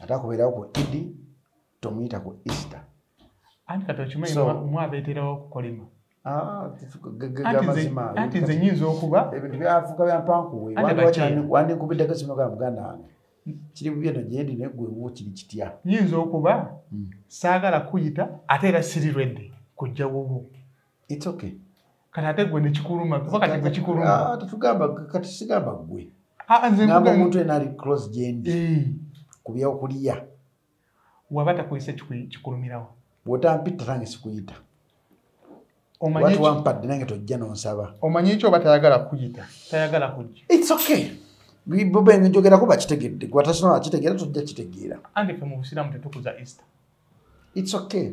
ate akubeerawo ku idi tomuyita ku easter anti kati okimanyi mwabeeterawo okukolima ah, anti nze nyinza okuba ebintu byafuka byampankuwe wandinkubiddeko simu ga muganda wange kiri bubye no gyendi naye gwewo kiri kitya nyinza okuba hmm. saagala kuyita ate era siri redde kujja wubu it's okay kati ate gwe nekikuluma kuba kati gwe kikuluma ah, tetugamba kati sigamba gwe ah, ah, ngamba omuntu ena ali close gendi eh. ku byokulya waba takozesa kikulumirawo bwotampita tange sikuyita watu wampadde nange tojja nonsaba omanyi ekyo oba tayagala kuyita tayagala kujja its okay bobenjogera kuba kitegedde gwatasinola kitegeera tojja kitegeera ange fe mu busiramu tetukuza easter its okay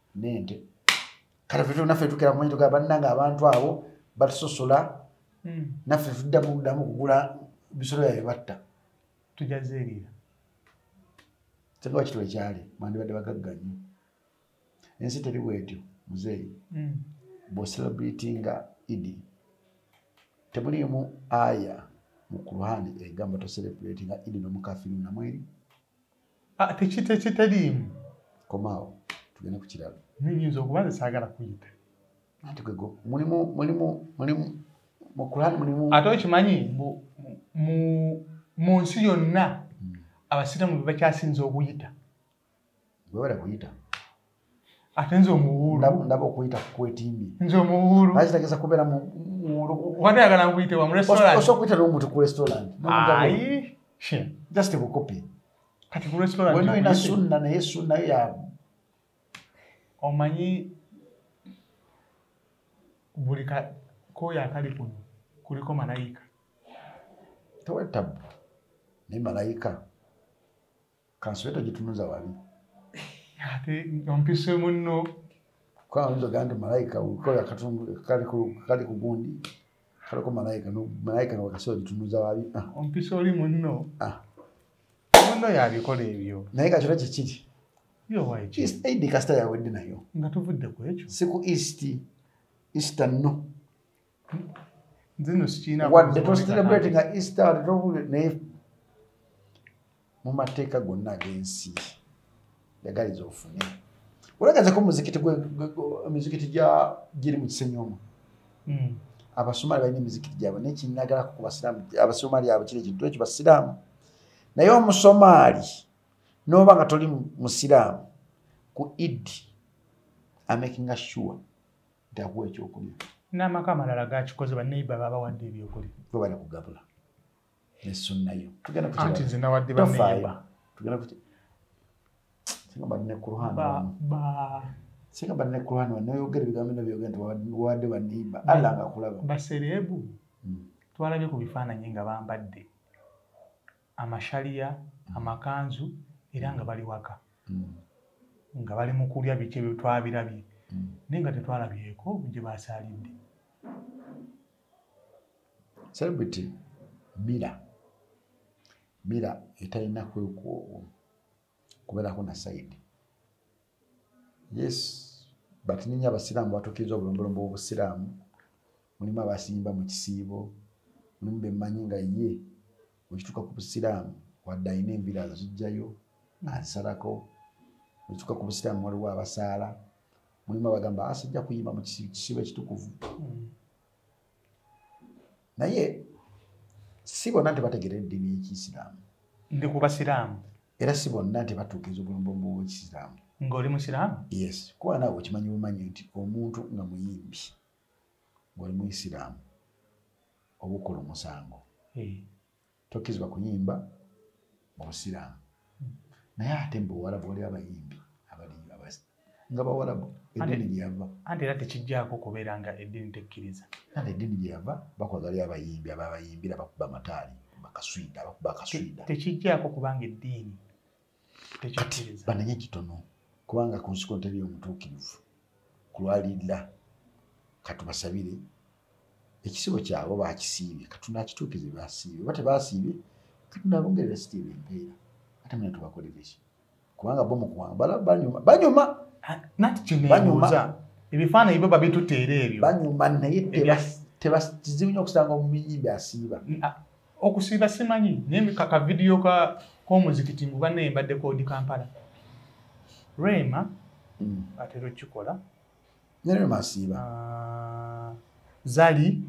nente kale fe naffe tukira mumanyi tugamba bannange abantu abo batusosola hmm. naffe tuddamu kuddamu kugula bisolo yabye batta tujazeerira singa wakitu ekyali mwandibadde bagagga nnyo ensi teri bwetyo muzeeyi hmm. bwoselebratinga idi temuliimu aya mu kurhani egamba toselebratinga idi nomukafiri namweri Ah, tekitekiteliimu komaawo tugende ku kiralo nyinza okuba nze saagala kuyita anti kwego mulimu mulimu mulimu mukulani mulimu ate okimanyi mu nsi yonna hmm. abasiramu bebakyasinza okuyita bwebala kuyita ate nze omuwulundaba okuyita kukwetimbi nze omuwulu lwaki tageza kubeera muwuluwatayagala nkuyite wa murestorantosobola okuyita nomuntu ku restaurant just bukopi kati ku restaurant wena olina sunna naye sunna yo ya omanyi buli koyo akali kuno kuliko malayika tewetabu naye malayika kansule togitunuza wali ate ompise munno kwanzoga nti malayika kola katundu kali ku gundi kaliko malayika malayika newakasi ogitunuza wali ah. ompise oli munno ah. munno yabikola ebyo naye kakiro kikiri eid kasita yawedde nayo nga tuvudde ku ekyo si ku east easter no wadde tocelebrate nga easter wadde tokule naye mu mateeka gonna ag'ensi yagaliza ofune olagazeko muzikiti emizikiti giri mu kisenyi omu hmm. abasomali balina emizikiti gyabwe naye kinagalako ku basiraamu abasomali abo kiri ekintu ekyo basiraamu naye omusomaali noba nga toli musiraamu ku idi amakinga sure dakuwa ekyokulya n'amaka amalala gakikoze baneiba babawadde ebyokulya webale kugabula nesunnayo tugendaanti nze nawadde baneiba tugenda kuti singa bali ne kurhan singa bali ne kurhan wanoyogera ebigambo bino byogera nti wawadde baneiba alla nga kulaba basereebu hmm. twalabye ku bifaananyi nga bambadde amashaliya amakanzu era nga bali waka nga bali mu kulya biki ebyo twabirabye naye nga tetwalabyeko gye basaalidde celebrity mira mira etalina kwekwowo kubeerako na sayidi yes but ninyo abasiraamu batuukiriza obulombolombo bwobusiraamu mulimu abasimba mu kisiibo mulimu bemanyi nga ye wekituuka ku busiraamu wadde alina envira azijjayo azisalako wekituuka ku busiraamu waliwo abasaala mulimu abagamba asajja ah, kuyimba mu kisiibo ekitukuvu hmm. naye si bonna nti bategeera eddiini y'ekiyisiraamu ndi ku basiraamu era si bonna nti batuukiriza obulombolombo bw'ekisiraamu ng'oli musiraamu yes kuba naawe okimanyi bumanyi nti omuntu nga muyimbi ng'oli muisiraamu obukulu musango eh. tokkizibwa kuyimba mu busiraamu naye ate mu buwarabu waliwo abayimbi abaliyo abasi nga bawarabu eddiini gyeyava anti era tekijjako kubeera nga eddiini tekkiriza nate eddiini gyeyava bakola waliyo abayimbi ababayimbira bakuba amataali bakaswida bakuba akaswida tekijjako kubanga eddiini kati banenye kitono kubanga ku nsiko nteri omutuukirivu kulwalirira katubasabire ekisibo kyabo bakisiibye katunakituukize basiibye oba tebasiibye katunabongerera sitiiba empeera ate muna tubakolereki kubanga bo mukuwanga banyuma banyuma ebifaananyi byo babituteera ebyo banyuma naye kizibu nyo okusanga omuyimbi asiiba okusiiba simanyi naye kaka vidiyo k'omuzikiti ngu banna embadde kodi kampala rema mm. atera okukikola neremasiiba ah, zali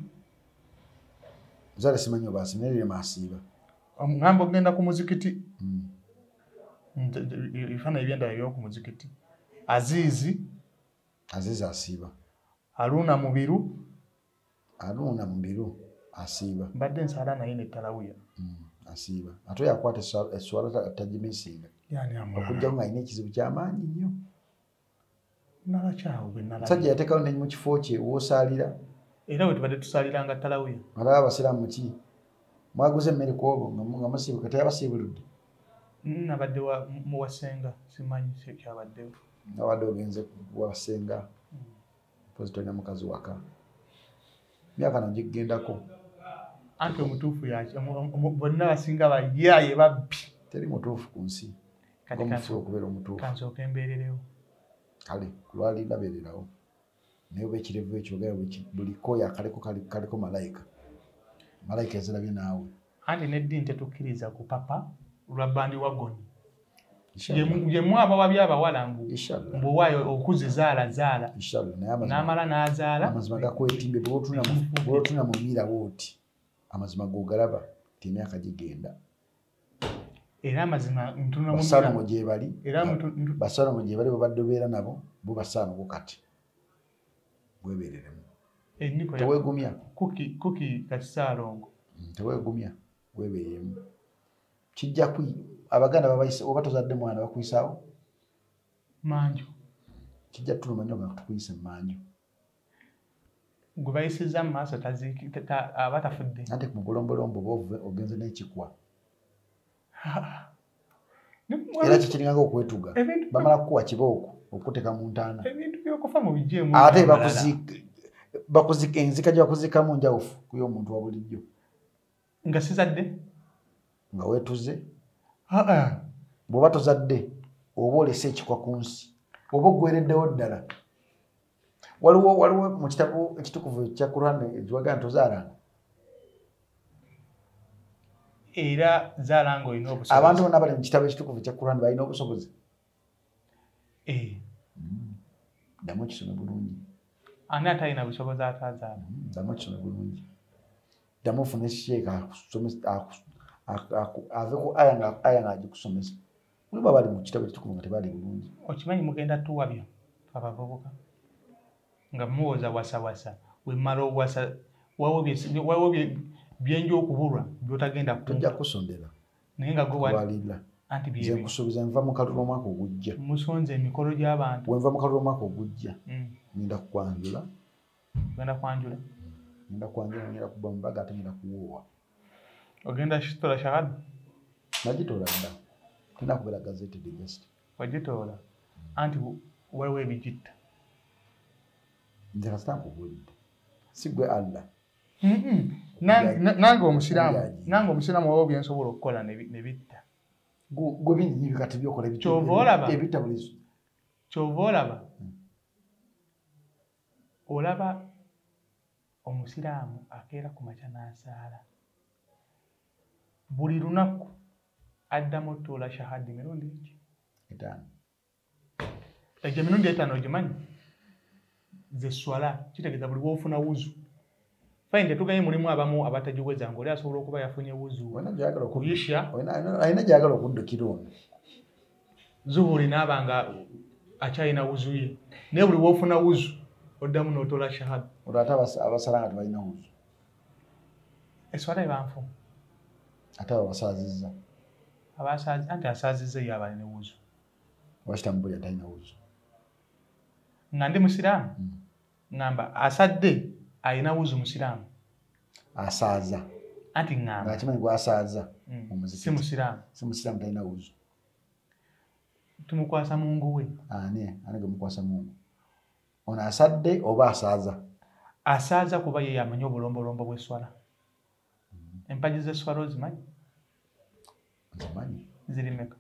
zali simanyi obasi naye remasiiba omugamba okugenda ku muzikiti mm. ebifaananyi byendala byoku muzikiti aziizi aziizi asiiba aluuna mubiru anuuna mu biro asiiba mbadde nsaala naye nettalawiya mm, asiiba ate yakwata eswala tagimisinga okujjako nga alina ekizibu kyamaanyi nnyo sajja yatekawo ne mu kifo kye wosaalira era wetubadde tusaaliranga ttalawiya alaba abasiraamu ki mwaguze emmere ku obo nga musiibu kati yabasiibuludde mm, nabadde muwasenga simanyi kyabaddewo nabadde ogenze wasenga mm. mpozi tolina mukazi waka myaka nagigendako anti omutuufu yaki bonna basinga bayaye babbi teri mutuufu ku nsi omufu okubeera omutuufukansooka embeererewo kale kulwali ndabeererawo naye oba ekirevu ekyogera buli koya kaliko malayika malayika ezirabye naawe anti neddini tetukkiriza kupapa lwa bandi wagoni yemu abawabi abawala mbu mbuwayo okuzi zaala zaala namala nazaala amazima gakwetimbe bwotuna mumira woti amazima gogalaba ti emyaka gigenda era amazima ntunabasalomo gyebali basalomo gyebali babadde obeera nabo bo basalomo kati webereremu tewegumya kuki kakisaalongo mm, tewegumya webereremu kijja ku abaganda babayise oba tozadde mwana bakuyisawo manju kijja tuluma nyo nga tukuyise manju gwe bayisiza mu maaso aba tafudde ate kumugolombolombo oba ogenze n'ekikwa era kikiringako okwetuga bamala kukuwa kibooko okukuteka mu ntaana ate enzika gyebakuzikamu njawufu kuyo omuntu wa bulijjo nga sizadde nga wetuze bwoba tozadde oba olese ekikwa ku nsi oba ogwereddewo ddala waliwo waliwo mu kitabo ekitukuvu ekya quran ekiwaga nti ozaalanga era zaalanga olina obusobozi abantu bona bali mu kitabo ekitukuvu ekya quran balina obusobozi eh. hmm. ddamu kisome bulungi ani atalina busobozi atazaala hmm, ddamu kisome bulungi ddamu ofune sheeka akusomesa aveko aya nga agikusomesa Mulaba bali mu kitabo ekitukuvu nga tebaali bulungi. Okimanyi mugenda tuwabya abavubuka nga muwoza wasawasa wemala owasa wawo byenja okubulwa byotagenda tojja kusondera naye nga gwewalila anti byenkusuubiza nva mu kalulu omwaka ogujja musonze emikolo gy'abantu wenva mu kalulu omwaka ogujja mm. ngenda kukwanjula ogenda kwanjula ngenda kwanjula ngenda kuba mubaga ate ngenda kuwoowa ogenda kitola shahada nagitola dda tenda kubeera gazeti the best wagitoola anti waliwo ebigitta nze kasita nkubuulidde si gwe allah nange omusiraamu nange omusiraamu waliwo byensobola okukola nebitta gwe binyinyi bikati byokola ebitta buli kyova olaba hmm. olaba omusiraamu akeera ku makya n'asaala buli lunaku addamu otuula shahada emirundi eki etaano egyo emirundi etaano ogimanyi zeswala kitegeeza buli woofuna wuzu fine tetugaye mulimu abamu abatagiweza ngoli asobola okuba yafunye wuzu kuyisha alina gyagala okuddukira ono zuhuri naaba nga akyalina wuzu ye naye buli wofuna wuzu oddamu notola shahada olwo ate abasala nga tebalina wuzu eswala ebanfu ate abo basaazizza abasaazi anti asaazizza eyo abali ne wuzu wakitamu buli atalina wuzu nga ndi musiraamu mm. ŋŋamba asadde alina wuzu musiraamu asaaza anti ŋŋamba akimanyi gwasaaza mm. omuzikiti si musiraamu si musiraamu talina wuzu tumukwasa mungu we ani ani gwe mukwasa mungu ono asadde oba asaaza asaaza kuba ye yamanyi obulombolombo bw'esswala empagi zeswala ozimanyi ziri meka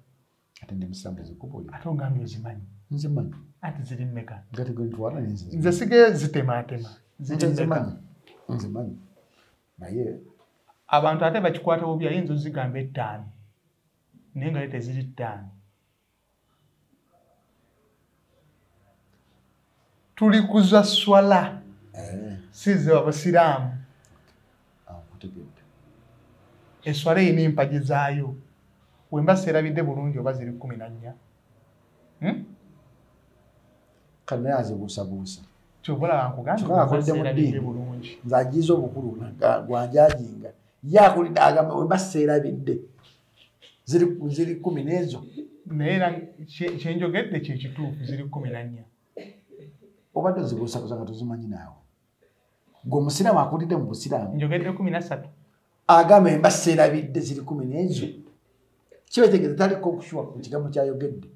ate ndi musanvu zikubuli ate ogambye ozimanyi nze manyi ati ziri meka nze sige zitematema nze manyi naye abantu ate bakikwata bubi ayinza ozigamba ettaano naye nga ye teziri ttaano tuli kuza swala eh. size abasiraamu ah, eswala erina empagi zaayo wemba seerabidde bulungi oba ziri kumi na nnya hmm? kanaye azibuusabuusa kyobalaakugandaadde bulungi nze agiiza obukulu gwanjajinga ye akulidde agamba wemba seerabidde ziri ziri kumi n'ezo naye era kyenjogedde kyekituufu ziri kumi na nnya obadde ozibuusabuza nga tozimanyi naawe gwe omusiraamu akulidde mu busiraamu njogedde kumi na ssatu agamba emba seerabidde ziri kumi n'ezo kibetegeza taliko okushuwa ku kigambo kyayogedde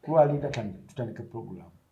kulwalinda tutandike puroguramu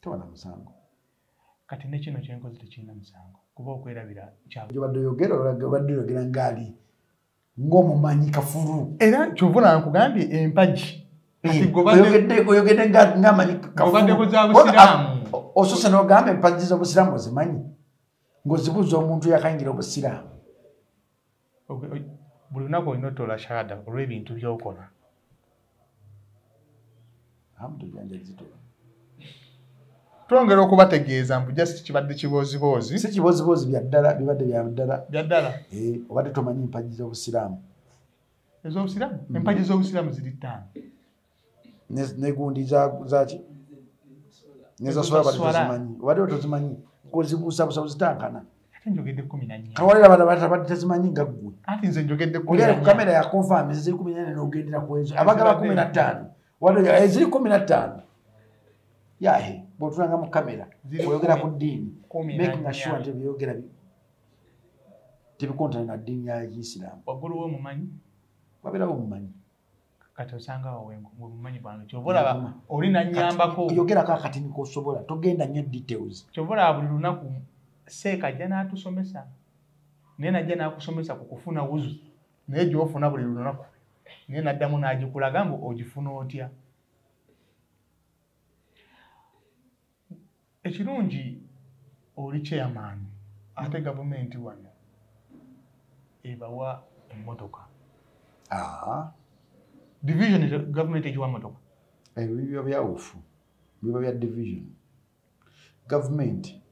toba na musango kati nekino kyenkozi tekirina musango kuba okwerabira kyabadde oyogera obadde oyogera ngaali ng'omumanyi kafulu era kyova nankugambye empagi oyogedde ngamanyi osose nogamba empagi z'obusiraamu ozimanyi ng'ozibuuza omuntu yakayingira obusiraamu buli lunaku olina otola shahada olw'ebintu byokola twongera okubategeeza mbu just kibadde kibooziboozi si kibooziboozi byaddala bibadde byaddala byaddala eh, obadde tomanyi empagi z'obusiraamu ez'obusiraamu hmm. empagi z'obusiraamu ziri ttaano negundi zaki nezaswala bali tezimanyi obadde otozimanyi kozibuusabusa ozitankana kawalira bana batabadde tezimanyi nga ggwe ogenda ku kamera yakonfami ziri kumi nane nogendera kwezo abagaba kumi na ttaano eziri eh, kumi na ttaano yahe bwotulanga mu kamera oyogera ku ddiini making assure nti byeyogera tebikontana na ddiini ya isiraamu wabeerawo omumanyi kati osanga awo wemumanyi bwange kyova olaba oli nanyambako oyogerako akatini kosobola togenda nnyo details kyova olaba buli lunaku seeka ajja n'atusomesa naye najja n'akusomesa ku kufuna wuzu naye gyofuna buli lunaku naye naddamu n'agikulaga mbu ogifuna otya ekirungi oli chairman ate gavumenti wano ebawa emmotoka ah. division gavumenti egiwa motoka ebyo eh, biba byawufu biba bya division gavumenti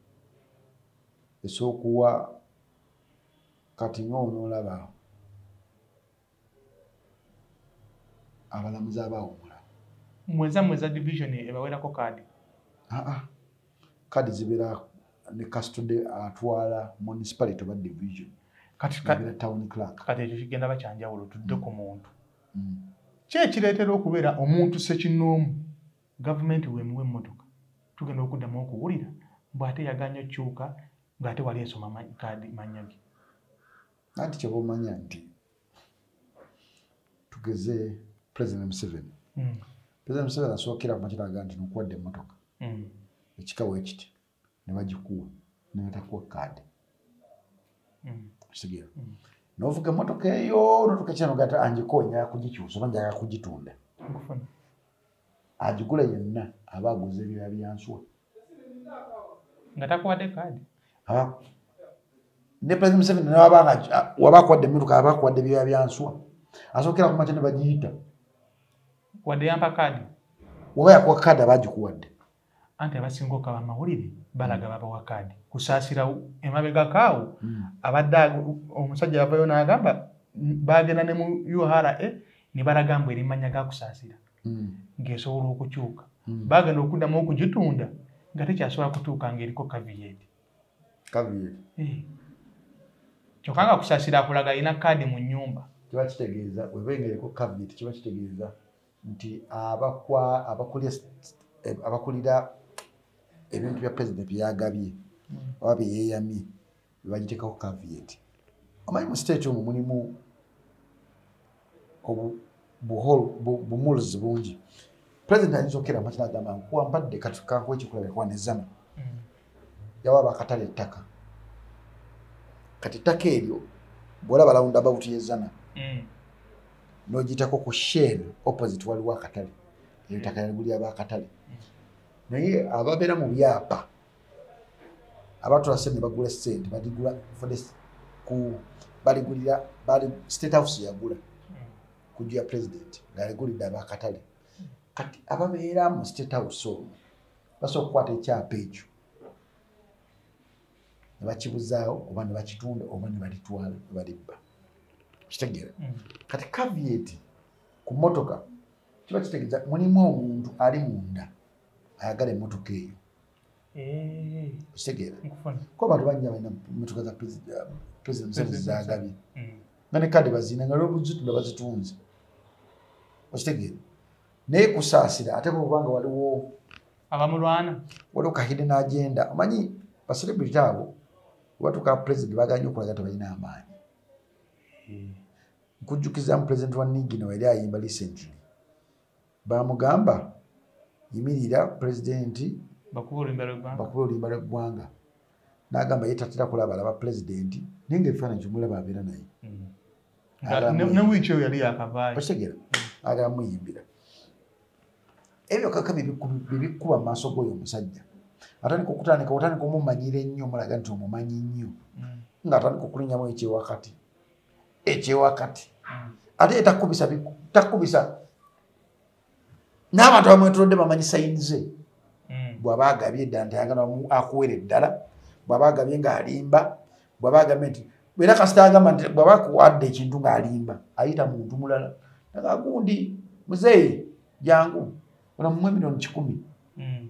esookuwa kati nga onoolaba abalamuzi abawumula mweza mweza division ebawerako kaadi ah, ah. kaadi zibeera ne kastude atwala municipality oba division katibeera town clark kati ekyo kigenda bakyanjawulo tudde ku mm. muntu mm. ki ekireetera okubeera omuntu sekinoomu gavumenti wemuwa emmotoka tugenda okuddamu okuwulira mbw ate yaganya okukyuka ngaate wali esoma kaadi manyage nanti kyoba omanya nti tugeze president museveni mm. president museveni asookera makiraga nti nokuwadde emotoka mm. ekikawo ekiti nebagikuwa nebatakuwa kaadi mm. kitegera mm. novuga emotoka eyo notuka kinogata angiko njaga kugikyusa oba njaga kugitunda agigula yenna aba aguza ebyoya byansuwa nga takuwadde kaadi ne president museveni nawabanga waba akuwadde emmotoka aba akuwadde byoya byanswa asookera kumakya ne bagiyita wadde yampa kaadi oba yakuwa kaadi aba agikuwadde anti abasinga okaba amawulire balaga babawa kaadi kusaasira emabegakaawo hmm. abadde omusajja yavayo n'agamba bagenda ne mu ura ne balaga mbu erimanya gakusaasira hmm. ng'esobola okukyuka hmm. bagenda okuddamu okugitunda nga tekyasobola kutuuka ng'eriko kaviyeti eh. kyokka nga kusasira akulaga alina kaadi mu nyumba kiba kitegeeza weba engereko kaviyeti kiba kitegeeza nti abakulira ebintu bya pulezidenti byagabye hmm. oba byeyeyamye bagiteekako caviet omanyi mu state omu mulimu bumuls bungi president ayinza okera makina agamba nkuwa mpadde katukankuwa ekikulaba ekuwa nezama mm. yawa bakatala ettaka kati ettaka eryo bwolaba lawunda bawutu yezana mm. nogitako ku shell opposite waliwo akatale eyo ttaka yaguli aba akatale mm. naye ababeera mu byapa abatula sente ne bagula sente badigula ku baligulira bali state house yagula kujja ya president ngaligulidde abakatale kati ababeera mu state house omwo basobola okukwata ekyapa ekyo ne bakibuzaawo oba ne bakitunda oba ne balitwala ne balibba kitegeera mm. kati kavieti ku motoka kiba kitegeeza mulimu omuntu ali munda ayagala emotoka eyo eh. okitegeera kuba bantu banja balina motoka za president museveni zagabye mm. nga ne kade bazina nga lwobuzitunda bazitunze okitegeera naye kusaasira ate kubanga waliwo abamulwana waliwo kahide n'agenda omanyi baselebrity abo webatuka president baganye okulaga tebalina amaanyi eh. nkujjukizamu president wa nigino yali ayimba recently bamugamba yimirira pulezidenti bakuba oluyimba lweggwanga nagamba ye tatera kulaba alaba pulezidenti naye nga ebifaananyi kyomulaba abeera naye okitegera agala muyimbira ebyo kaka bebikuba mu maaso g'oyo omusajja atandika okutandika otandika omumanyira ennyo omulaga nti omumanyi nnyo mm. nga atandika okulinyamu ekyewakati ekyewakati ate takubisa takubisa n'abantu abamwetulodde bamanyi sayini ze hmm. bwaba agabye ddala ntayagala akuwera eddala bwaba agabye ng'alimba bwaba agambye nti era kasita agamba nti bwaba akuwadde ekintu ng'alimba ayita muntu mulala nagagundi muzeeyi jangu onamumu emirioni kikumi hmm.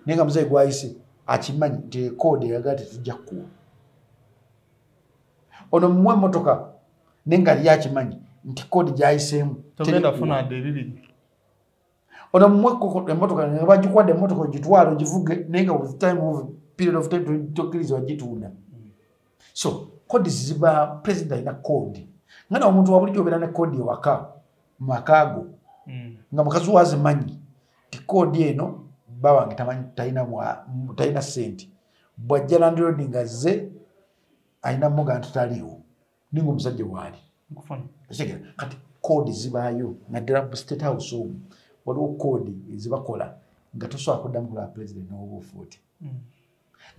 naye nga muzeeyi gwayise akimanyi nti ekoodi eyagaa tetujja kukuwa ono mumwe motoka naye nga liyo akimanyi nti kodi gyayiseemu ono mumwe emotoka nga bagikwadde emotoka ogitwala ogivuge naye nga with time of period of time tokiriza ogitunda so kodi ziba president alina kodi nga na omuntu wabulijjo obeera ne kodi ewaka makaago hmm. nga mukazi wazimanyi ti kodi eno bawange tamanyi talina sente bwajja landirodi nga ze alina muga nti taliiwo ninga omusajja waali kati koodi zibaayo naddala mu state house omu waliwo koodi ezibakola nga tosobola kuddamu kulaba pulezidenti nowoba ofuuti hmm.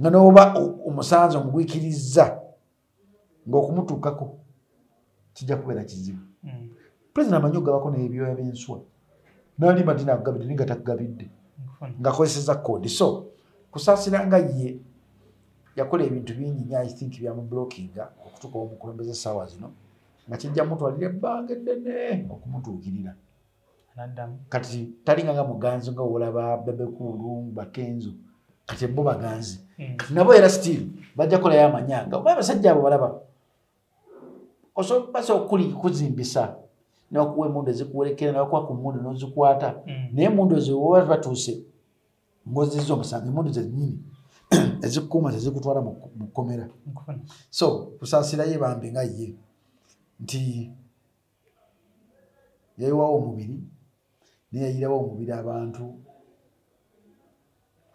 nga nowoba omusanze omugwikirizza ngaokumutuukako kijja kubeera kizibu hmm. pulezidenti amanyi okugabako nebyoya byenswa nali madina akugabidde naye nga takugabidde ngakozeseza kodi so kusaasira nga ye yakola ebintu bingi nyo i think byamublockinga okutuuka omukulembeza essaawa zino nga kijja mutwalira ebbanga eddene okumutuukirira kati talinga nga muganzi nga olaba bebekuulu bakenzo kati bo baganzi hmm. kati nabo era still bajja kolayo amanyanga oba abasajja abo balaba osobola basa okuli kuzimbisa nebakuwa emundu ezikuwerekera nebakuwa ku mundu nozikwata mm. naye emundu eziwoba batuuse ngoziza omusango emundu zenyini ezikuuma zezikutwala mu kkomera so kusasirayo bambi nga ye nti yayiwawo omubiri naye yayirawo omubiri abantu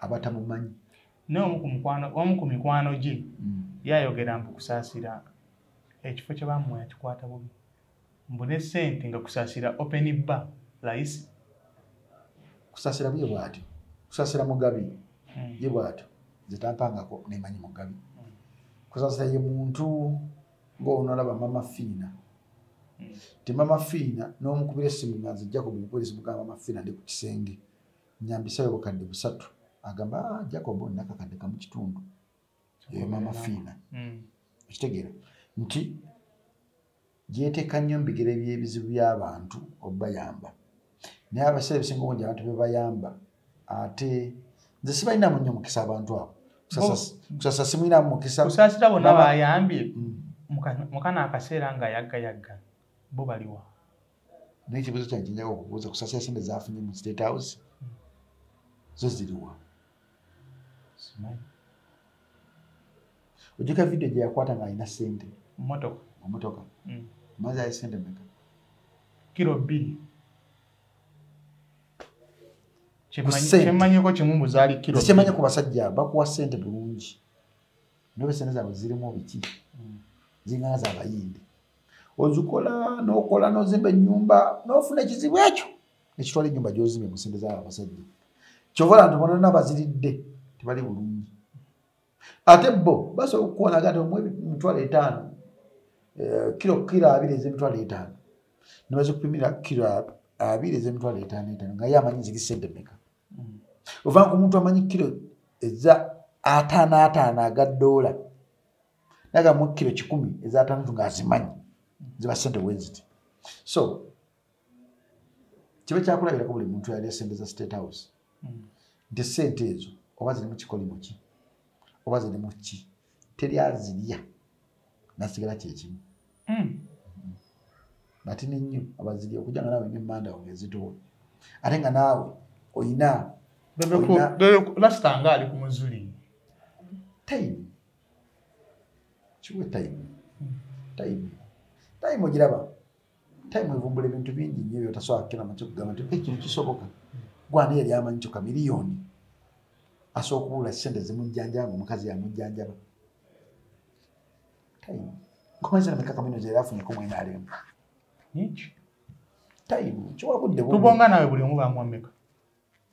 abatamumanyi naye omu ku mikwano gye mm. yayogera mbu kusaasira ekifo kye bamuwa yakikwata bubi mbu ne sente nga kusaasira open bar layisi kusaasira buye bwatyo kusaasira mugabi mm. ye bwatyo nze tampangako nemanyi mugabi mm. kusaasira ye muntu ngaonalaba mama fiina hmm. ti mama fiina nomukubira esimu nga nze jacob mukwezi mugamba mama fiina ndi ku kisenge nyambisayo bukadde busatu agamba ah, jacob nakakadde kamu kitundu eyo mama fiina hmm. okitegeera nti gyeteeka nnyo mubigere byebizibu byabantu obayamba naye abasae ebisinga obungi abantu bebayamba ate nze sibalinamu nnyo mukisa abantu abo kusasa simulinamu mukisa kusasira bona bayambye mm. mukana akaseera nga yaggayagga bo baliwa naye ekibuzo kyankinjaa okubuuza kusasira sente zafunye mu state house mm. zo ziriwa ojjuka vidiyo gye yakwata ng'alina ssente mumotoka mumotoka mm. mazi ali ssente meka kiro bbiri kyemmanyiko kimu muzaali kiro kyemmanyi ku basajja bakuwa ssente bulungi nobe ssente zaabwe zirimu biki mm. zingana zaabayindi ozikola n'okola n'ozimba ennyumba n'ofuna ekizibu ekyo nekitwala enyumba gyozimye musente za abasajja kyova lantu bona na baziridde tebali bulungi ate bo basobola okukuwona agati omwe mitwalo etaano eh, kiro kiro abiri ezemitwalo etaano nebazikupimira kiro abiri ezemitwalo etaano etaano nga ye amanyi ziri sente meka mm. ovanga ku muntu amanyi kiro eza ataano ataano aga doola nagamu kiro kikumi eza ataano tu nga azimanyi ziba sente wenziti so kiba kyakulabirako buli muntu yali esente za state house hmm. nti sente ezo oba zirimu kikolimo ki oba zirimu ki teri azirya nasigala kyekimu hmm. batini nnyo abazirya okuja nga nawe nyo manda wange ezitowa ate nga naawe oyina lasitanga ali ku muzuli time kiwe time hmm. time time ogiraba time evumbula ebintu bingi nyo byotasobola kukira mace kugamba nti ekintu kisoboka gwana yali amanyi kyoka miliyoni asobola okubula sente zimujjanjaba nga omukazi yamujjanjaba time nkomaze na mikaka mino gyeyali afunyeko mwena alemba nyingi time kiwabudde tubonga nawe buli omu bamwameka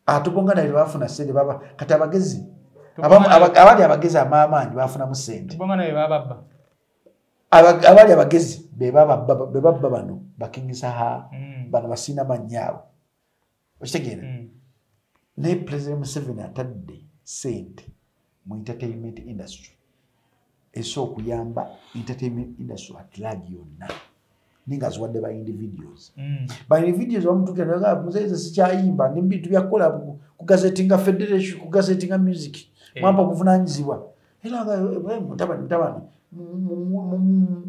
atubonga ah, nawe bafuna sente baba kati abagezi abali abagezi amaamaanyi bafunamu sente tubonga nawe bababba abaali abagezi bebabba bano bakingisaha mm. bano basiina mannyaabo okitegeera mm. naye president museveni atadde sente mu entertainment industry ese okuyamba entertainment industry at large yonna naye nga ziwadde ba individuals mm. ba individuals bamutukira naga ah, muzeyi nze sikyayimba nebintu byakukola ku gazeti nga federation ku gazeti nga music eh. mwampa obuvunanyizibwa era nga eh, eh, mutabani mutabani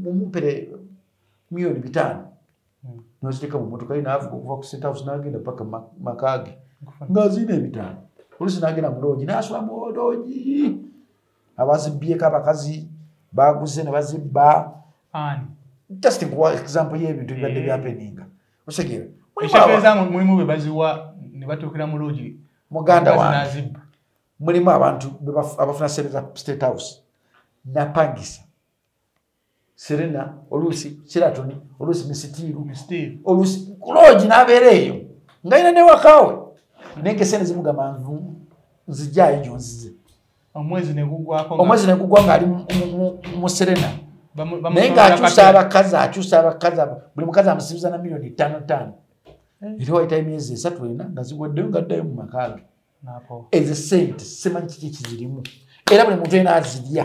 mumupere miyoni bitaano mm. noziteka mumotoka ye naavuga okuva ku state house nagenda paka makaage nga ziina ebitaano olusi nagenda muloogi nasula muloogi abazibbyeko abakazi baguze ne bazibba just nkuwa example y'ebintu bibadde eh. byapeninga osegeera mulimu bebaziwa ne batuukira mu loogi muganda wange mulimu abantu abafuna sente za state house napangisa serena oluusi kiratoni oluusi misitiiru oluusi kuloogi n'abeera eyo nga yina newakaawe naye nga esente zimugamba nzijaayo gyo nzize omwezi negugwa ng'ali mu serena naye ng'akyusa abakazi akyusa abakazi buli mukazi amusibiza na miliyoni ttaano ttaano eh. era wayitayo emyezi esatu ena nga ziwaddeyo nga ddayo mu makaage ezo sente simanyi kiki kizirimu era buli muntu ena azirya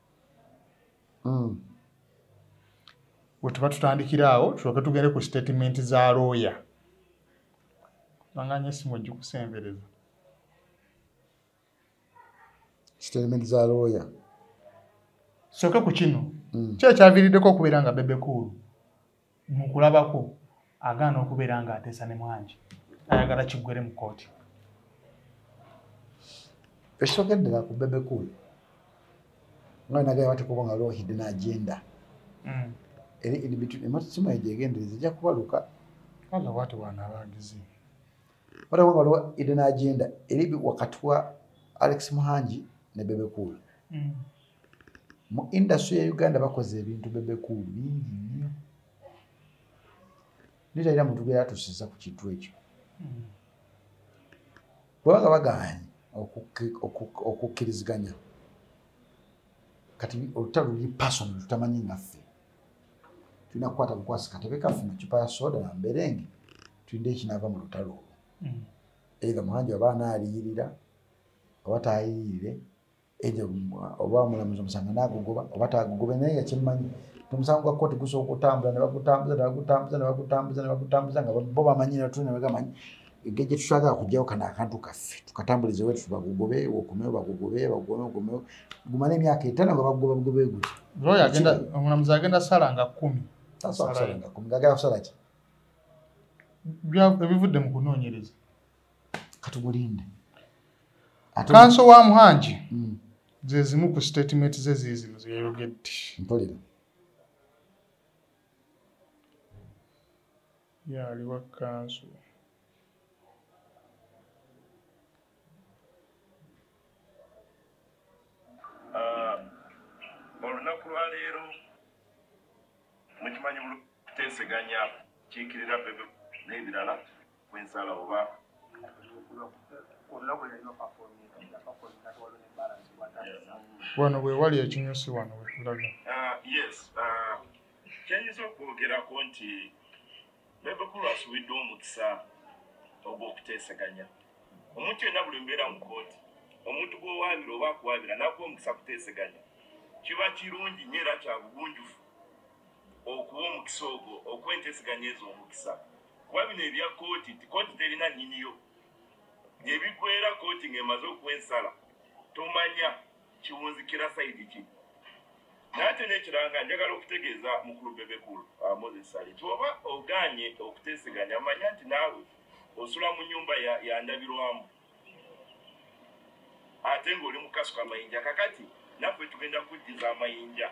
mm. wetuba tutandikira awo tuloke tugende ku statement za looya banganya esimu ojikusembereza statement za looya soke ku kino mm. kyekyaviiriddeko okubeera nga bebekuulu mukulabako agaana okubeera nga ateesa ne mwangi ayagala kiggwere mu kooti ekitogendera ku bebekul nga nagaya batekuba nga loo hidden agenda mm. eri inbetween ematusimu ejo egendereza ejja kubaluka kala watu wana abagizi waliwo nga waliwo hidden agenda eri wakati wa alex muhangi ne bebekul mm. mu industry ya uganda bakoze ebintu bebekulu bingi nnyo nitalina muntu gweratusiza ku kintu ekyo bwebaga baganye okukkiriziganya kati olutalo luli pason lutamanyi ngaffe tulina kukwata bukwasi katebe kaffe mucupa ya soda namberenge tulinde ekinava mu lutalo olwo eitha muhanji waba anaaliyirira oba taayiyirire ejo oba mulamuzi omusanga nagugoba oba tagugobe naye yakimanyi omusango gwa kooti gusobola okutambula nebagutambuza nebagutambuza nebagutambuza nebagutambuza nga bo bamanyi natu nebagamanyi egge gye tutwagala kujjawo kano akantu kaffe tukatambulize wetu bagugobe okomewo bagugobe bagugobe okomewo gumala emyaka etano nga bagugoba bugobe guti omulamuzi agenda sala nga kumi agenda kusala ki ebivudde mu kunoonyereza katugulinde kanso wa muhangi mm. zezimu ku statement ze zizino zeyayogedde mpulira yaliwa kanso ah, olunaku lwaleero mukimanyi muteseganya kiikirira bebe n'ebirala kwensala oba wano wewali ekinyusi wano wetulaga ah, yes ah, kyayinza okwogerako nti bebekulwasubiddwa omukisa ogw'okuteeseganya omuntu yenna buli mbeera mu kooti omuntu gwowaabira oba akuwaabira nakuwa omukisa kuteeseganya kiba kirungi nyo era kyabugunjufu okuwa omukisa ogwo okuwa enteeseganya ezo omukisa kuba bino ebya kooti nti kooti terina nyiniyo nebigwera kooti ng'emaze okuwa ensala tomanya kiwunzikira sayidi ki nate nekiranga njagala okutegeeza mukulu bebekulu uh, moses sali ti oba oganye okuteeseganya manya nti naawe osula mu nyumba yandabirwamu ate ng'oli mukasuka amayinja kakati naffe tugenda kujjiza amayinja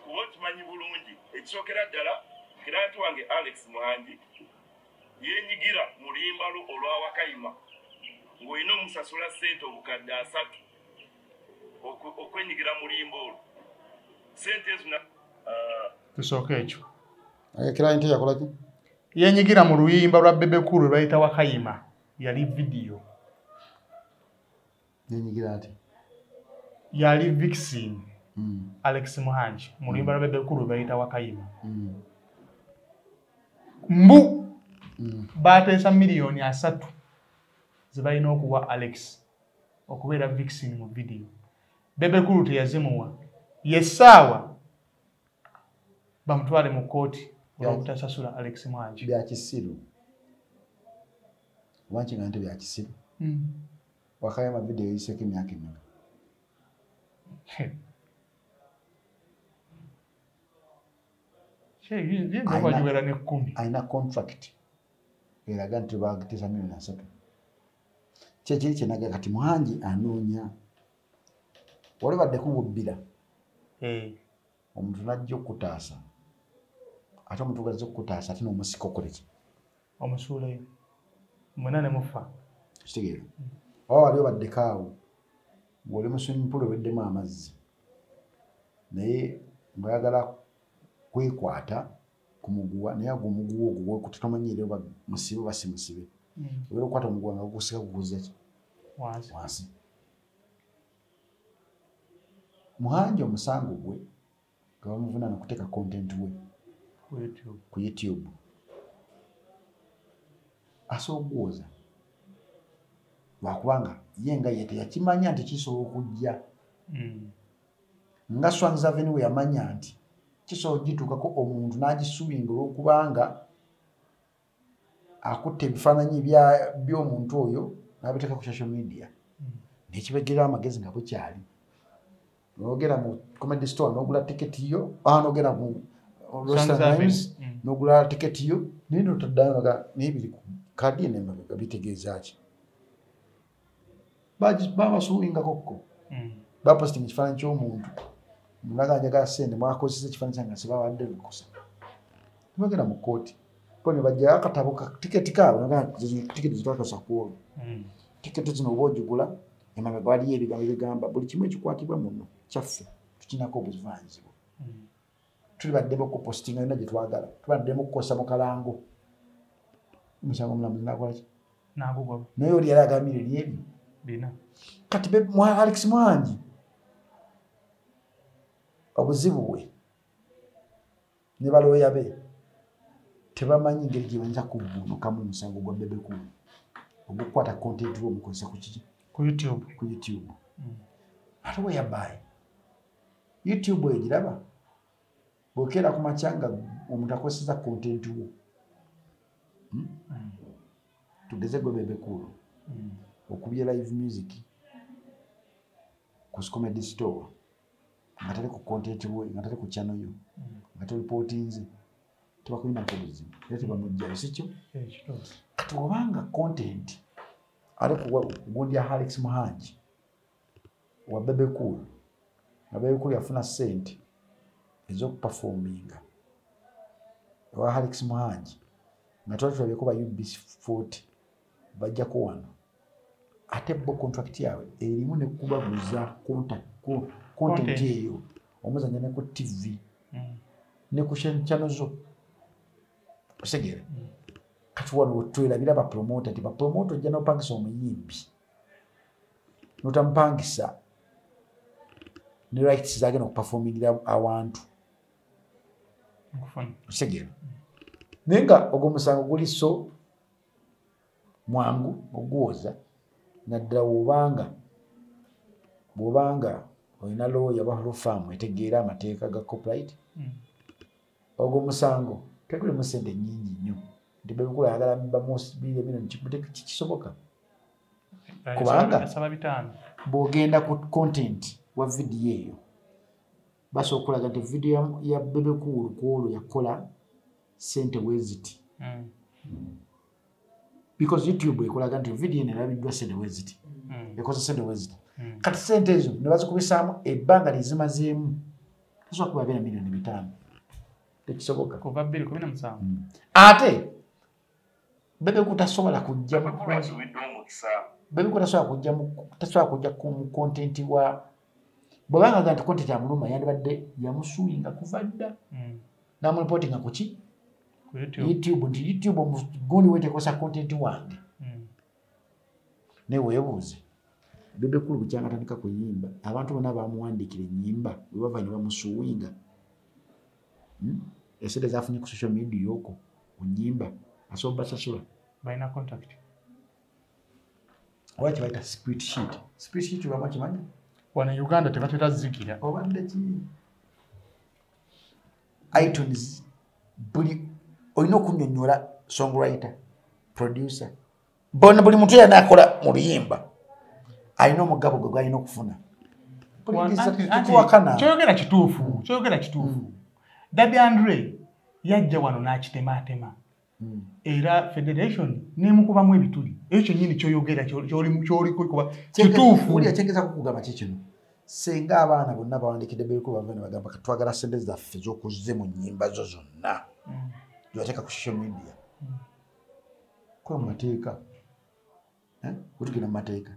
kuba okimanyi bulungi ekisookera ddala kiranti wange alex muhangi yenyigira mu luyimba lwo olwawakayima ng'olina omusasula ssente obukadde asatu okwenyigira mu luyimba olwo sente ezo uh, tusooka ekyo kiranti yakolaki yenyigira mu luyimba lwa bebekulu lwebayita wakayima yali vidiyo nenyigira nti yali vixin mm. alex muhangi mu luyimba lwa bebekulu lwebayita wakayima mm. mbu mm. bateesa miliyoni asatu zebalina okuwa alex okubeera vixin mu vidiyo bebekulu teyazimuwa yesaawa bamutwale mu kkooti olwobutasasula alex mwangi byakisiru oba nkiga nti byakisiru hmm. wakayo amavidiyo yiseko emyaka emeka alina contract eraga nti bagitesa milioni asatu kyekiri kyenaga kati mwangi anoonya wali badde kububbira eh. omuntu najja okukutaasa ate omuntu gaza okukutaasa ate nomusika okoleki omusuuleyo mwena nemufa kitegeera oba wali obaddeko awo ngoli musumimpula oweddemu amazzi naye ngayagala kwekwata kumuguwa naye agwo omuguwa ogwo gwekuta tomanyi era oba musibe oba si musibe hmm. obeera okukwata omuguwa nga gugusika guguzaki wansi muhanji omusango gwe nga bamuvunaana okuteeka content we ku youtube asoogwoza lwakubanga ye nga ye teyakimanya nti kisobola okujja hmm. nga swanzaveni we yamanya nti kisobola okugituukako omuntu n'agisuubinga olwokubanga akutte ebifaananyi by'omuntu oyo n'abiteeka ku social media hmm. nekibegerawo amagezi nga bukyali nogera mu comedy store nogula tiketi yo ah, nogera mu restaurants hmm. nogula tiketi yo naye notaddayo naga naye biri ku kadi nemabega bitegeeza ki babasuubingakokko hmm. bapositi mu kifaananyi ky'omuntu naga njagala sente mwakozesa ekifaananyi kyange sibabadde lukusa tebagenda mu kkooti ko ne bajjayo akatabo ka tiketi kaabo tiketi zitwakasa ku olwo hmm. tiketi zino oba ogigula emame gwaliyo ebigambo ebigamba buli kimu ekikwatibwa muno kyaffe tukinako obuzivanzibwa hmm. tuli baddemu okupostinga yona gyetwagala tubaddemu okukosa mukalango musango mulamuzi nakolaki naye oli yali agambire lyebyo kati alex mwangi obuzibu bwe ne balooya be tebamanyi ngeri gyebayinza kuvunukamu omusango gwa bebekulu ogukukwata kontenti lwomukozesa kukiki ku youtube mm. ate weyabaayi youtube egiraba bwokera ku makya nga omuntu akozeseza content wo hmm? hmm. tugeze gwe bebekuulu hmm. okubye live music ku scomedy store nga tali ku content wo nga tali ku chano yo nga tolipotinze tebakulinako buzibu era tebamujjayo sikyo eh, kati obanga content ali kugundya halex muhangi wa bebe cool nga bebe cool yafuna sente ezokupafominga ewa halix muhangi nga tuba tulabyeko ba ubc fort bajjako wano ate bo contract yaabwe erimu nekubaguza content eyo omuzanya neku tv mm. nekushanchano zo osegere mm. kati wano wetwerabira bapromota ti bapromota ojja nopangisa omuyimbi notamupangisa ne rights zagenda okuperformingira awantu segera naye nga ogwo musango guli so mwangu oguwoza naddala wobanga bwobanga olina looya oba lufaamu etegeera amateeka ga copyright hmm. ogwo musango tegulimu sente nyingi nnyo nti bebikula ayagala bamusibiire bino kisoboka eh, kubanga bwogenda ku content wa vidiyo eyo basobola okulaga nti vidiyo ya bebekuulu kwolwo yakola sente weziti mm. because youtube ekulaga nti vidiyo eno erabiddwa sente weziti mm. ekoze sente weziti mm. kati sente ezo ne bazikubisaamu ebbanga lyezimazeemu tasobola kuba bera milioni bitaano tekisoboka ate bebe kutasobola kujja mu bebe kutasobola kujja mu tasobola kujja ku content wa bwaba nga ganti content ya muluma yandibadde yamusuinga kuva dda mm. namu reporting ku ki youtube nti youtube omugundi wetekosa content wange mm. naye weebuuze bebe kulu bukyanga atandika kuyimba abantu bona bamuwandiikira enyimba webava ne bamusuwinga hmm? esente zafunye ku social media oko onyimba asobola basasula balina contact oba kyebayita spirit sheet spirit sheet obamu kimanyi wano e uganda tebatera zikira obadde ki itunes buli olina okunyonyola songwriter producer bona buli muntu yena akola mu luyimba alina omugabo gwe gwalina okufuna kyoyogera kituufu kyoyogera kituufu mm. dadi andre yajja wano n'akitemaatema mm. era federation nemukubamu ebituli ekyo kyenyini kyoyogera kyolikikuba kituufu senga abaana bonna bawandikidde beeko bava ne bagamba katwagala sente zaffe zokuzze mu nyimba zo zonna mm. zibateeka ku social media mm. kola mu mateeka eh? wetugenda mu mateeka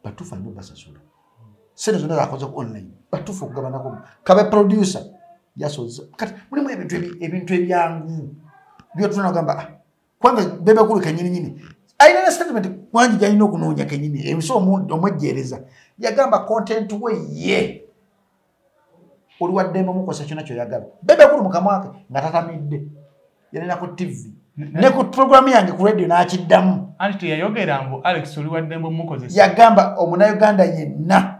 batuufu alina obasasula sente zonna zakoze ku online batuufu okugabanako kabe producer yasoze kati mulimu ebintu ebintu ebyangu byotunanagamba ah, kubanga bebakulu kenyininyini ayina ne statement mwanji gyalina okunoonya kenyini emisa omwejjeereza yagamba content we ye oli waddembe omukozesa kyona kyoyagala bebakulu mukamwake nga tatamidde yalina ku tv ne ku programu yange ku radio n'akiddamu anti teyayogera mbu alex oli waddembe omukozesa yagamba omunauganda yenna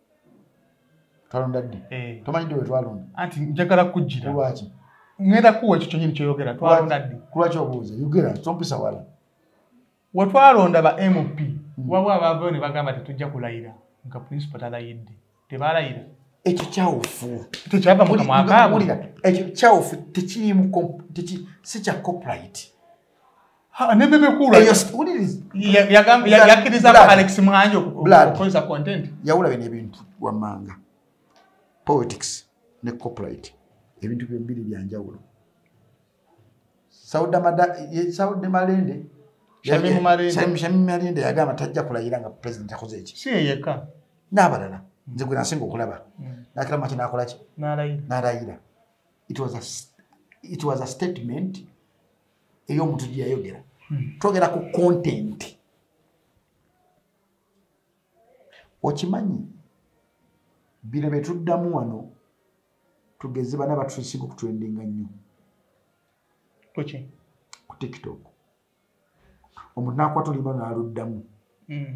twalonda ddi eh. tomanyi ddi wetwalonda anti njagala kujjira lwaki ngenda kuwa ekyo kyenyini kyoyogera twalonda ddi kulwaki obuuza yogera tompisa wala wetwalonda ba mp hmm. wabo abavayo ne bagamba tetujja kulayira nga principal talayidde tebalayira ekyo kyawufu tekyava mukamwakaabulira ekyo kyawufu tekirimu si kya copyright nebebekulayawulabye nebintu wamanga politics ne copyright ebintu byebiri byanjawulo saude malende shamimalende yagamba tajja kulayira nga president akoze eki siyeyeka nabalala nze gwe nasinga okulaba hmm. nakira maki nakolaki nalayira it was a statement ey'omuntu gye yayogera hmm. twogera ku kontenti okimanyi bino bye tuddamu wano tugeze bana batusinga okutwendinga nnyo ku tiktok omuntu nakwata oluyimba naluddamu hmm.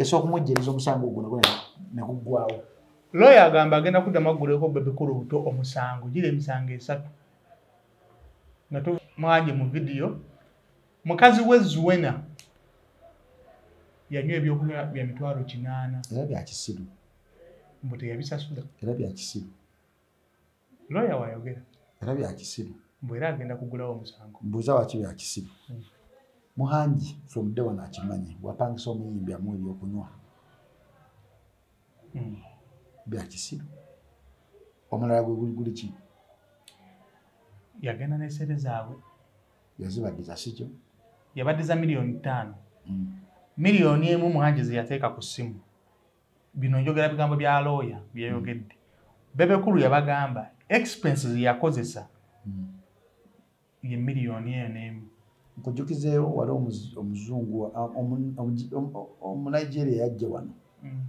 esokumujjiriza omusango guno gwe neguggwawo looya agamba agenda kuddamu agguleko bebikulu buto omusango gira emisango esatu nga tumwanje mu vidiyo mukazi we zuwena yanywa ebyokunywa bya mitwalo kinaana era byakisiru mbu teyabisasula era byakisiru looya wayogera era byakisiru mbu era agenda kugulawo omusango mbuuza waki byakisiru hmm. muhangi from day one akimanyi wapangisa omuyimbi amu ebyokunywa hmm. byakisiru omulala gwe guli guli ki yagenda nesente zaabwe yazibaddiza sikyo yabaddiza miliyoni ttaano hmm. miliyoni emu muhangi zeyateeka ku ssimu bino njogera bigambo bya looya byeyogedde bebekulu yabagamba expenses yakozesa hmm. ye miliyoni eyo n'emu nkujukizeewo wali omuzungu omunigeria yajja wano hmm.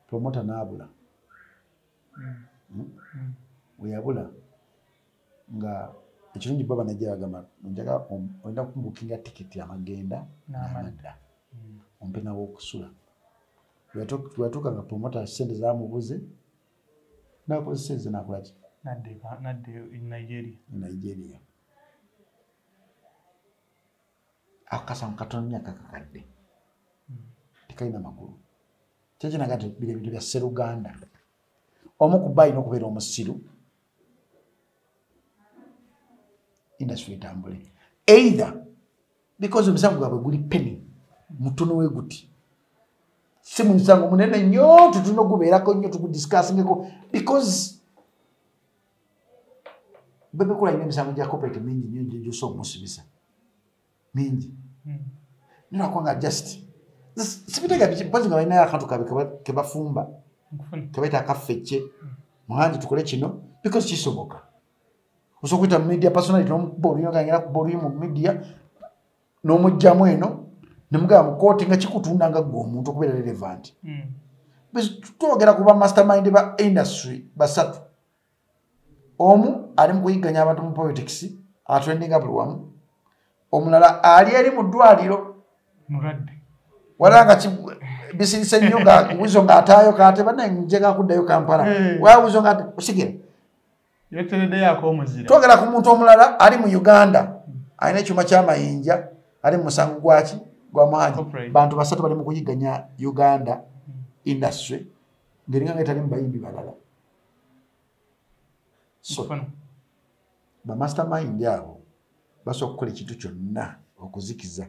promota naabula hmm. weyabula nga ekirungi baba najja bagamba njaga olina kumubukinga tiketi amagenda namadda ompe nawokusula lweyatuuka nga promota sente zamubuze nakozesa eze nakolaki nadde nigeria nigeria akasamu katono myaka kakadde hmm. tekalina makulu kyekinaga nti biri ebintu bya seruganda omu ku bayina okubeera omusiru industry etambule either because omusango gwabwe guli peni mutono we guti si musango munene nnyo tutuna ogubeerako nnyo tugudiscussingeko because bebekula ina emisango gya cooperate mingi nnyo gyosa omusibisa mingi hmm. ninakwanga just sibitega biki mpozi nga balinayo akantu kabe kebafumba kebaita akaffecce hmm. muhanji tukole kino because kisoboka osobola okuyita mu media personality nomukuba oluyi ngagenda kuba oluyi mu media nomugjamu eno nemugamba mu kooti nga kikutunda nga gwe omuntu okubeera relevant hmm. twogera ku bamastermind ba industry basatu omu ali mukuyigganya abantu mu politics atrendinga buli wamu omulala ali eri mu ddwaliro walanga bisirise nnyo nga wizo ngaataayo kate banaye njegakuddayo kampala hmm. wa wizo ngaate osigere twogera ku muntu omulala ali mu uganda alina ekyuma kyamayinja ali mu musango gwaki gwa maanyi bantu basatu bali mu kuyiganya uganda industry ngeringa nga etali mu bayimbi balala so bamaster mind abo basobola okukola ekintu kyonna okuzikiza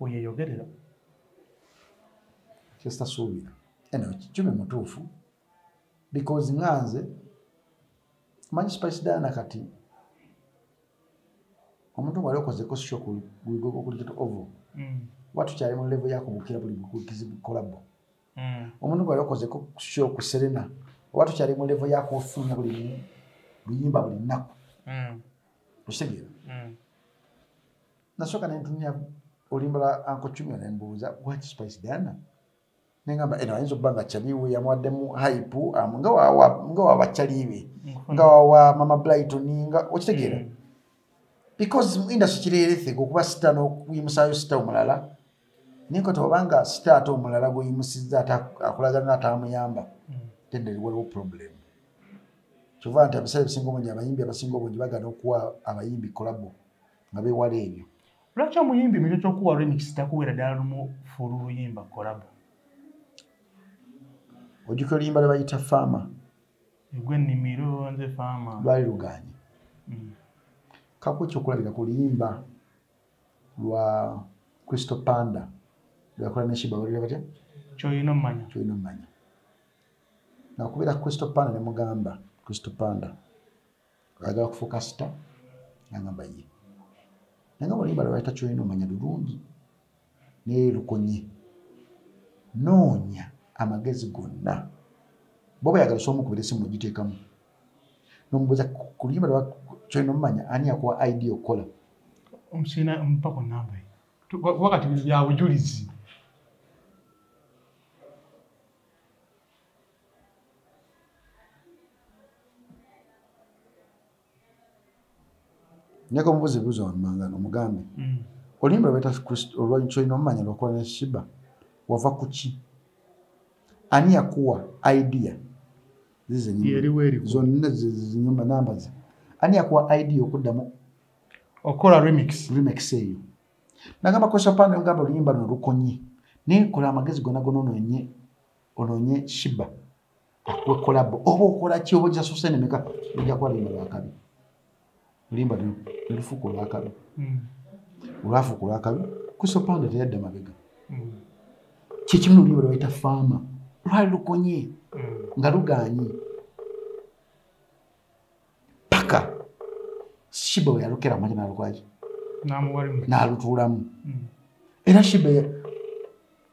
weyeyogerera kyesitasuubira eno kikyumi mutuufu because nga nze manyi spice diana kati omuntu nga aliokozeko sho kuligokulikito ovo mm. kuba tukyali mu levo yakubukira buli bukukizibukolabo mm. omuntu nga aliokozeko sho ku serena oba tukyali mu levo yakufunya buli luyimba buli nnaku mm. okitegeera nasooka nentunya olimba lwa anko cumia nembuuza wat spice diana nengamba eno ayinza okuba nga caliwe yamwaddemu hype um, nga wawa nga wawa caliwe nga wawa mama blighton nga okitegeera mm. because industry kireeretheka okuba sita n'okuyimusaayo sita omulala nenkota obanga sita ate omulala gweyimusizza ate akulagana natamuyamba mm. then there waliwo problem kyova nti abisale bisinga obungi abayimbi abasinga obungi bagana okuwa abayimbi kolabo nga bewala ebyo lwaki omuyimbi mukyo kyokuwa remix takuwera ddala lumu fulu luyimba kolabo ojukira oluyimba lwebayita faama egwe nimiro nze faama lwali luganye mm. kaku ekyokulabira ku luyimba lwa kristo panda lweyakola neshiba balira batya kyoyina omumanya kyoyina omumanya nakubeera kristo panda nemugamba kristo panda agala kufuuka sita nangamba ye nanga olimba lwaleta kyolina omanya lulungi naye lukonye noonya amagezi gonna boba yagala osobola omukubira esimu ogiteekamu nomubuuza ku luyimba lwa kyolina omumanya ani yakuwa idea okukola omusina mupako namba kuba kati bino byabujulizi nyaka omubuzi buza wamanga no mugambe mm. olimba beta kristo olwanyi kyo ino manya lokwa ne shiba wava kuchi ani yakuwa idea zize ni yeri weri zo nne zize nyumba namba ze ani yakuwa idea okuda mu okola remix remix eyo nagamba kwa shapana ngamba olimba no rukonyi ne kola magezi gona gono no nye ononye shiba akuwe kolabo oba okola ki oba ojasuse nemeka ojja kuba limba lwakabi limba nelufuka olwakabi hmm. olwafuka olwakabi kusopanda teyadda mabega hmm. kyekimu lulimba lwebayita faama lwali lukonye hmm. nga luganye paka shiba weyalukera manya nalukwaki nalutuulamu era shiba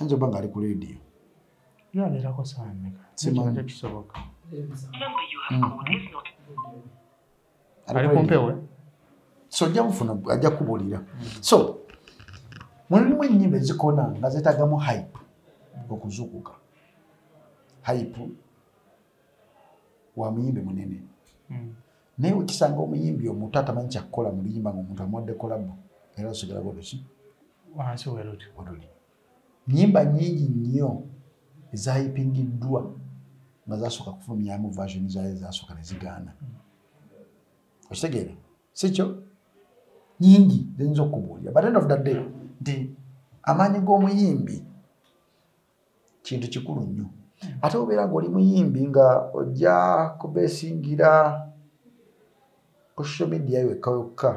Anjo banga ali ku radio. Yo abera ko saa mmeka? Simanyi kisoboka. Ali ku mpewo. So ajja kufuna ajja kubulira. So mulimu ennyimba ezikona nga zeetagamu hype okuzukuka. Hype wa muyimbi munene. Mm. naye wekisanga omuyimbi omuto atamanyi kyakukola mu luyimba nga omuntu amuwadde kolabo era osigala bweruki wansi weruti weruli nyimba nyingi nnyo ezayipingiddwa nga zasooka kufulumyamu version zayo ezasooka nezigaana mm. okitegeera sikyo nyingi ziyinza okukubuulira but end of the day nti amaanyi g'omuyimbi kintu kikulu nnyo ate obeera ngaoli muyimbi nga ojja kubesingira ku social media yokka yokka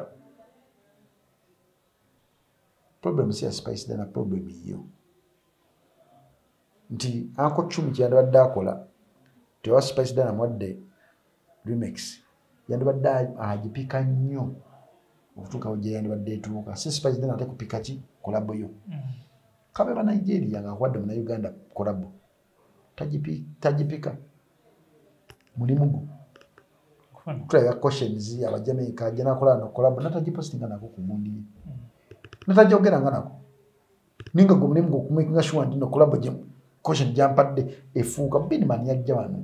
problem si ya spice dana problem yiyo nti anko cumi kyeyandibadde akola tewa spice dana mwadde remix yandibadde agipika nnyo okutuukawo gye yandibadde etuuka si spice then ate kupika ki kolabo yo mm. kabe ba nigeria nga akuwadde muna uganda kolabo tagipika mulimu gwo tulabya questions abajamaica ajja nakola no kolabo natagipostinga nako ku gundi ye mm. natajogeranga nako ninga gwe mulimu gwokumakinga shuwa nti no kolabo question gyampadde efuuka binman yajja wano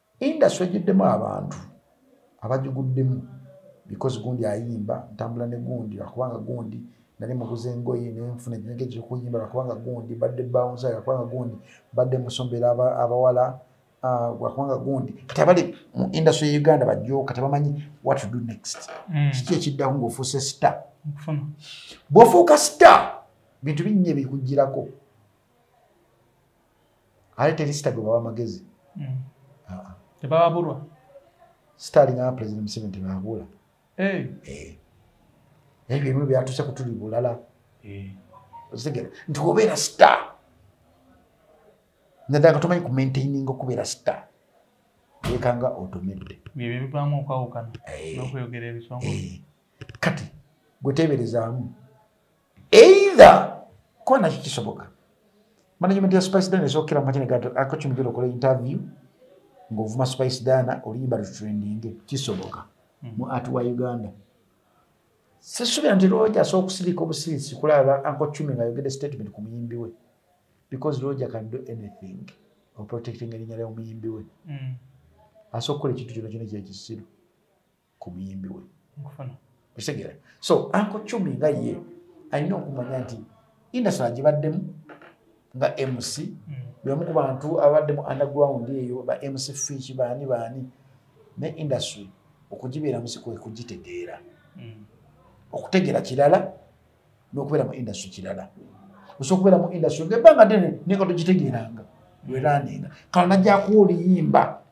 industry ejiddemu abantu abajiguddemu because gundi ayimba ntambula ne gundi akubanga gundi nali muguze engoye nenfuna ekintu ekyokuyimba lwakubanga gundi badde bounsa lwakubanga gundi badde musombera abawala ah, lwakubanga gundi kati abali mu industry ya uganda bajooka tebamanyi what to do next mm. kiki ekiddako ngaofuuse star bwofuuka star bintu binnya ebikugirako ate teri sita gwe bawa magezi mm. ah. tebababulwa sita alinaa president museveni tebabula eh. eh. naye byebimu byatuse kutuli bulala eh. ozitegera nti obeera sita naddala nga tomanyi kumaintaininga okubeera sita yekanga otomedde byebyo bivaamu okwawukana nokweyogera ebisongo kati gweteberezaamu either kuba nakyo kisoboka management ya spice dana esokera mumakinakakimugera okola interview ngaovuma spice dana oluyimba lutrendinge kisoboka hmm. mu art wa uganda sisubira nti roja asobola okusirika obusirisi kulaba ankocumi nga ayogede statement ku muyimbi we because roja can do anything oprotecting erinya lyomuyimbi we hmm. asobola okukola ekintu kyona kyona kyekisiru ku muyimbi we okitegera so anko cumi nga ye alina okumanya nti indasona gibaddemu nga mc mm. bwemu ku bantu ababaddemu underground eyo ba mc fiki baani baani ne industry okugibeera musi kwe kugitegeera mm. okutegeera kirala n'okubeera mu industry kirala osobola okubeera mu industry ngaebbanga ddene naye nga togitegeeranga weraninga kano najjakuwa oluyimba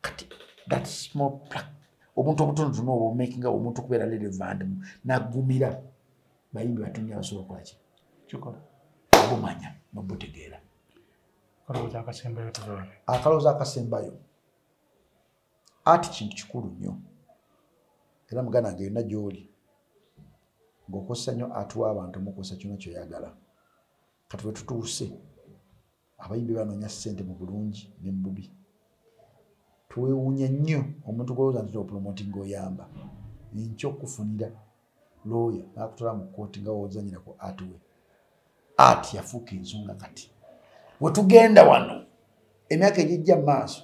kati that small plug obuntu obutonotono obwo obumakinga omuntu okubeera relevant mu nagumira bayimbi batunni abasobola okolaki kikola obumanya nobutegeera akalowooza akasembayo akalowooza akasembayo ati kintu kikulu nnyo era muganda nga yonna gy'oli ng'okozesa nnyo atuwa abantu omukozesa kyona kyoyagala kati wetutuuse abayimbi banoonya ssente mu bulungi ne mu bubi twewuunya nnyo omuntu gwolooza nti opulomoti ngaoyamba enkya okufunira looya nakutwala mu kkooti nga wozanyira ku atiwe ati yafuuka ensonga kati wetugenda wano emyaka egijja mu maaso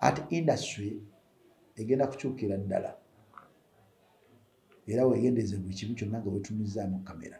ati industry egenda kukyukira ddala era wegendeeze buli kimu kyonna nga wetumizzaamu kamera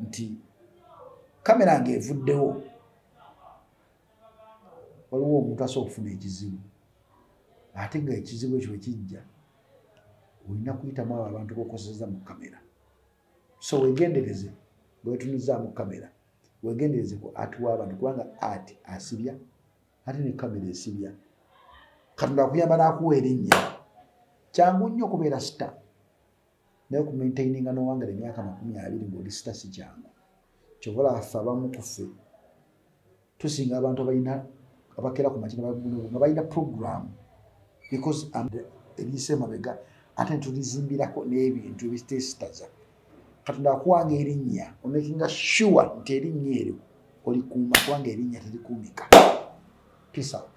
nti kamera nga evuddewo waliwo omuntu asobola okufuna ekizibu ate nga ekizibu ekyo ekijja olina kuyitamu abo abantu bokoseza mu kamera so wegendereze bwetunuzaamu kamera wegendereze ku ati wabantu kubanga ati asibya ate ne kamera esibya katonda akuyamba nakuwa erinnya kyangu nnyo okubeera sita naye okumaintaininga nowangala emyaka makumi abiri ngaoli sita si kyangu kyova olafa abamu kufe tusinga abantu abalina abakera ku makina nga balina programu because ebyise emabega ate netulizimbirako n'ebintu ebitesitaza katonda akuwanga erinnya omakinga sure nti erinnya eryo olikuuma kubanga erinnya terikuumika peace out